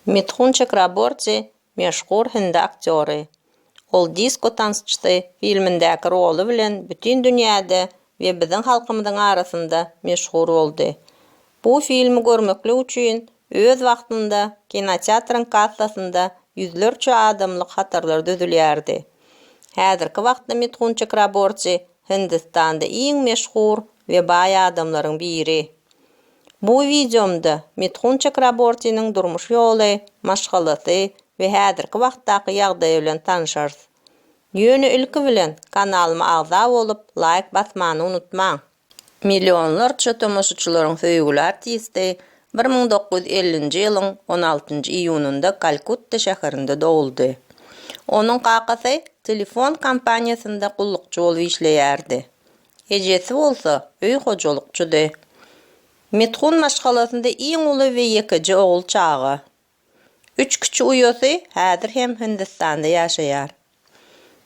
Mithun Çakraborti meşhur hindi aktýory. Ol Disko tansçysy filmindäki roly bilen bütin dünýäde we biziň halkymyzyň arasynda meşhur boldy. Bu filmi görmeklik üçin öz wagtynda kinoteatryň kassasynda ýüzlerçe adamlyk hatarlar düzülýärdi. Häzirki wagtda Mithun Çakraborti Hindistanda iň meşhur we baý adamlaryň biri. Bu wideomda Mithun Çakrabortiniň durmuş ýoly, maşgalasy we häzirki wagtdaky ýagdaýy bilen tanşarys. Ýöne ilki bilen kanalyma agza bolup laýk basmany unutmaň. Millionlarça tomaşaçylaryň söýgüli artisti bir müň dokuz ýüz ellinji ýylyň on altynjy iýunynda Kalkutta şäherinde doguldy. Onuň kakasy telefon kompaniýasynda gullukçy bolup işleýärdi. Ejesi bolsa öý hojalykçydy. Mithun maşgalasynda iň uly we ýekeje ogul çaga. Üç kiçi uýasy häzir hem Hindistanda ýaşaýar.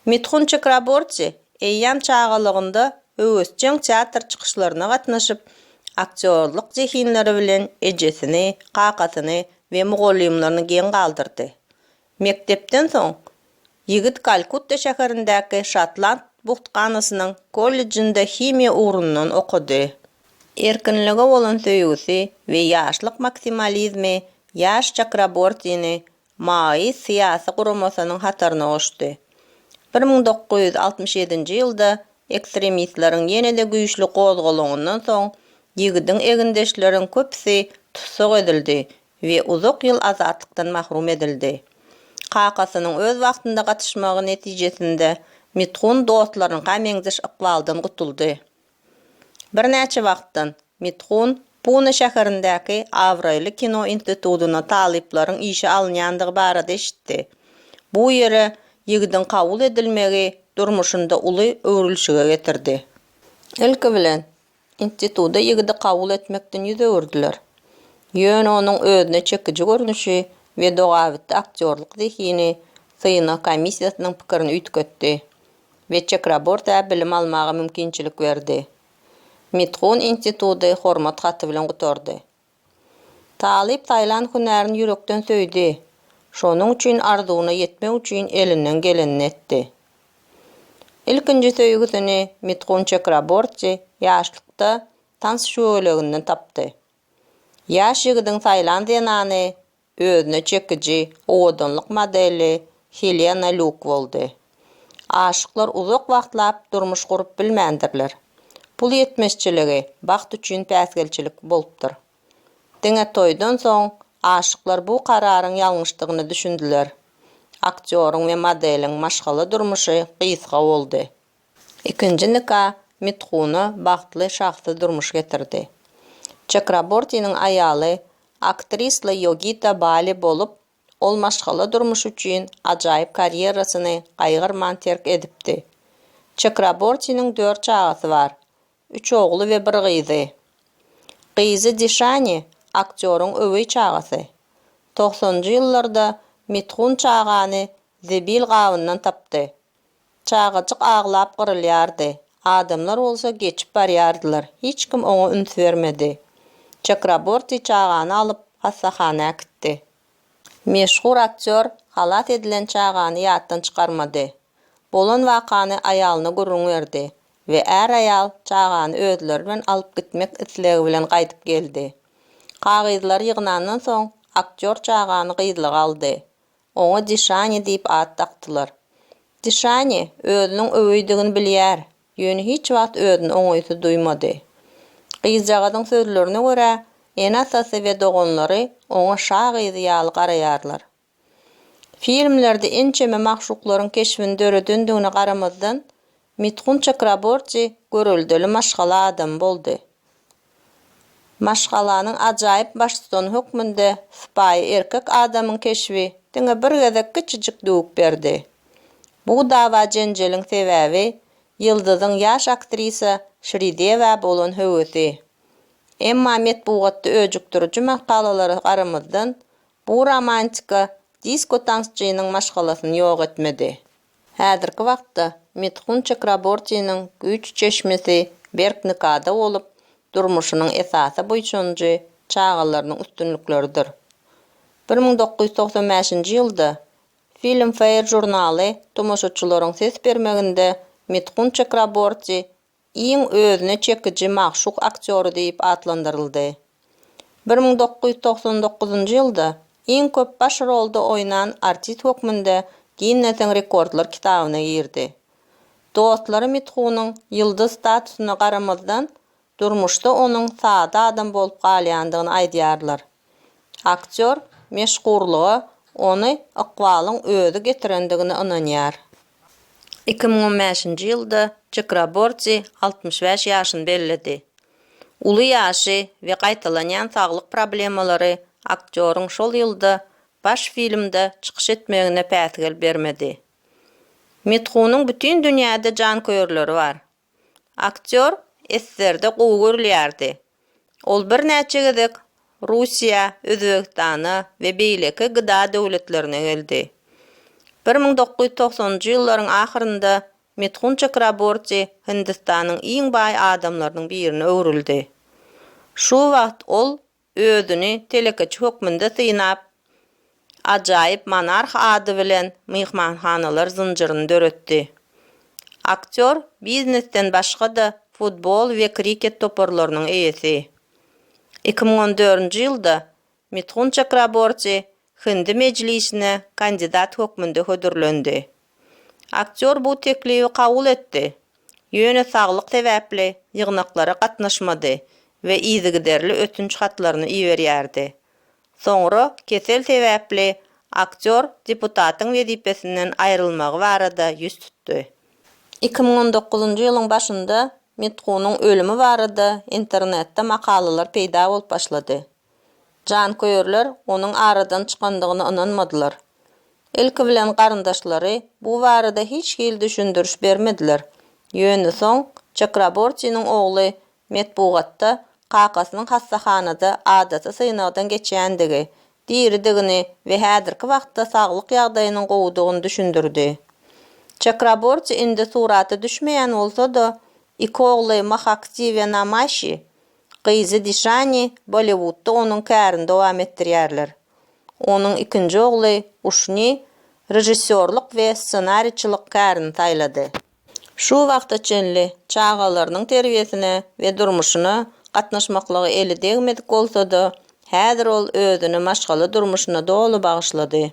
Mithun Çakraborti eýýäm çagalygynda höwesjeň teatr çykyşlaryna gatnaşyp, aktýorlyk zehinleri bilen ejesini, kakasyny we mugallymlaryny geň galdyrdy. Mekdepden soň, ýigit Kalkutta şäherindäki Şotland buhtkanasynyň kollejinde himiýa ugrundan okady. Erkinlige bolan söýgüsi we ýaşlyk maksimalizmi ýaş Çakrabortini Maoist syýasy guramasynyň hataryna goşdy. Bir müň dokuz ýüz altmyş ýedinji ýylda ekstremistleriň ýene-de güýçli gozgalaňyndan soň, ýigidiň egindeşleriň köpüsi tussag edildi we uzak ýyl azatlykdan mahrum edildi. Kakasynyň öz wagtynda gatyşmagy netijesinde Mithun dostlaryňka meňzeş ykbaldan gutuldy. Birnäçe wagtdan Mithun Pune şäherindäki abraýly kino institutyna talyplaryň işe alynýandygy barada eşitdi. Bu ýere ýigidiň kabul edilmegi durmuşynda uly öwrülişige getirdi. Ilki bilen, Instituta ýigidi kabul etmekden ýüz öwürdiler. Ýöne onuň özüne çekiji görnüşi we dogabitdi aktýorlyk zehini synag komissiýasynyň pikirini üýtgetdi we Çekrabortiä bilim almaga mümkinçilik berdi. Mithun instituty hormat haty bilen gutardy. Talyp saýlan hünärini ýürekden söýdi, şonuň üçin arzuwyna ýetmek üçin elinden gelenini etdi. Ilkinji söýgüsini Mitkun Çekraborti ýaşlykda tans şöweleginden tapdy. Ýaş ýigidiň saýlan zenany Özüne çekiji owadanlyk modeli Helena Luk boldy. Aşyklar uzak wagtlap durmuş gurup bilmändirler. Pul ýetmezçiligi bagt üçin päsgelçilik bolupdyr. Diňe toýdan soň aşyklar bu kararyň ýalňyşdygyny düşündiler. Aktýoryň we modeliň maşgala durmuşy gysga boldy. Ikinji nika Mithuna bagtly şahsy durmuş getirdi. Çakrabortiniň aýaly aktrisla Ýogita Bali bolup, ol maşgala durmuşy üçin ajaýyp karýerasyny gaýgyrman terk edipdi. Çakrabortiniň dört çagasy bar, üç ogly we bir gyzy. Gyzy Dişani aktýoryň öweý çagasy. Togsanynjy ýyllarda Mithun çagany zibil gabyndan tapdy. Çagajyk aglap gyrylýardy. Adamlar bolsa geçip barýardylar. Hiç kim oňa üns bermedi. Çakraborti çagany alyp, hassahana äkitdi. Meşhur aktýor halas edilen çagany ýatdan çykarmady. Bolan wakany aýalyna gürrüň berdi we är-aýal çagany özleri bilen alyp gitmek islegi bilen gaýdyp geldi. Kagyzlary ýygnandan soň, aktýor çagany gyzlyga aldy. Oňa Dişani diýip at dakdylar. Dişani özüniň öweýdigini bilýär, ýöne hiç wagt özüni oňaýsyz duýmady. Gyzjagazyň sözlerine görä, ene-atasy we doganlary oňa şa gyzy ýaly garaýarlar. Filmlerde ençeme magşuklaryň keşbini döredendigine garamazdan, Mithun Çakraborti göreldeli maşgala adamy boldy. Maşgalanyň ajaýyp baştutany hökmünde sypaýy erkek adamyň keşbi diňe bir gezek kiçijik düwük berdi. Bu dawa-jenjeliň sebäbi ýyldyzyň ýaş aktrisa Şridewä bolan höwesi. Emma metbugatda öjükdiriji makalalara garamazdan, bu romantika disko-tansçynyň maşgalasyny ýok etmedi. Häzirki wagtda Mithun Chakrabortiniň güýç çeşmesi berk nikada bolup, durmuşynyň esasy buýsanjy çagalarynyň üstünlikleridir. Bir müň dokuz ýüz togsan bäşinji ýylda Filmfare žurnaly tomaşaçylaryň ses bermeginde Mithun Chakraborti iň özüne çekiji magşuk aktýory diýip atlandyryldy. Bir müň dokuz ýüz togsan dokuzynjy ýylda iň köp baş rolda oýnan artist hökmünde Ginnesiň rekordlar kitabyna girdi. Dostlary Mithunyň ýyldyz statusyna garamazdan, durmuşda onuň sada adam bolup galýandygyny aýdýarlar. Aktýor meşhurlyga ony ykbalyň özi getirendigine ynanýar. Iki müň on bäşinji ýylda Çakraborti altmyş bäş ýaşyny belledi. Uly ýaşy we gaýtalanýan saglyk problemalary aktýoryň şol ýylda baş filmde çykyş etmegine päsgel bermedi. Mithunyň bütin dünýäde janköýerleri bar, Aktýor SSR-de gowy görülýärdi. Ol birnäçe gezek Russiýa, Özbegistana we beýleki GDA döwletlerine geldi. Bir müň dokuz ýüz togsanynjy ýyllaryň ahyrynda Mithun Çakraborti Hindistanyň iň baý adamlarynyň birine öwrüldi. Şu wagt ol özüni telekeçi hökmünde synap, ajaýyp Monarh ady bilen myhmanhanalar zynjyryny döretdi. Aktýor biznesden başga-da futbol we kriket toparlarynyň eýesi. Iki müň on dördünji ýylda Mithun Çakraborti Hindi Mejlisine kandidat hökmünde hödürlendi. Aktýor bu teklibi kabul etdi, ýöne saglyk sebäpli ýygnaklara gatnaşmady we yzygiderli ötünç hatlaryny iberýärdi. Soňra kesel sebäpli aktýor deputatyň wezipesinden aýrylmagy barada ýüz tutdy. Iki müň on dokuzynjy ýylyň başynda Mithunyň ölümi barada internetde makalalar peýda bolup başlady. Janköýerler onuň aradan çykandygyna ynanmadylar. Ilki bilen garyndaşlary bu barada hiç hili düşündiriş bermediler. Ýöne soň Çakrabortiniň ogly metbugatda kakasynyň hassahanada adaty synagdan geçýändigi, diridigini we häzirki wagtda saglyk ýagdaýynyň gowudygyny düşündirdi. Çakraborti indi surata düşmeýän bolsa-da, iki ogly Mahaksi we Namaşi Gyzy Dişani Bolliwudda onuň kärini dowam etdirýärler. Onuň ikinji ogly Uşni režissýorlyk we ssenariçilik kärini saýlady. Şu wagta çenli çagalarynyň terbiýesine we durmuşyna gatnaşmaklygy eli degmedik bolsa-da, häzir ol özüni maşgala durmuşyna doly bagyşlady.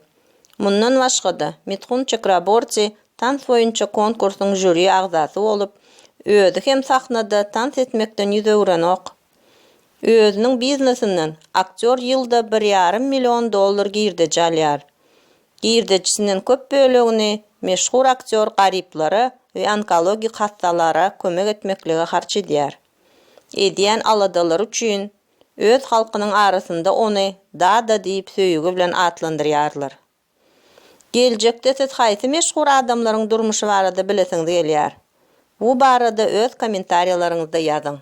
Mundan başga-da, Mithun Çakraborti tans boýunça konkursyň žuri agzasy bolup, özi hem sahnada tans etmekden ýüz öwürenok. Özüniň biznesinden aktýor ýylda bir ýarym million dollar girdeji alýar. Girdejisinden köp bölegini meşhur aktýor garyplara we onkologik hassalara kömek etmeklige harç edýär. Edýän aladalary üçin Öz halkynyň arasynda ony Dada diýip söýgi bilen atlandyrýarlar. Geljekde siz haýsy meşhur adamlaryň durmuşy barada bilesiňiz gelýär? Bu barada öz kommentariýalaryňyzda ýazyň.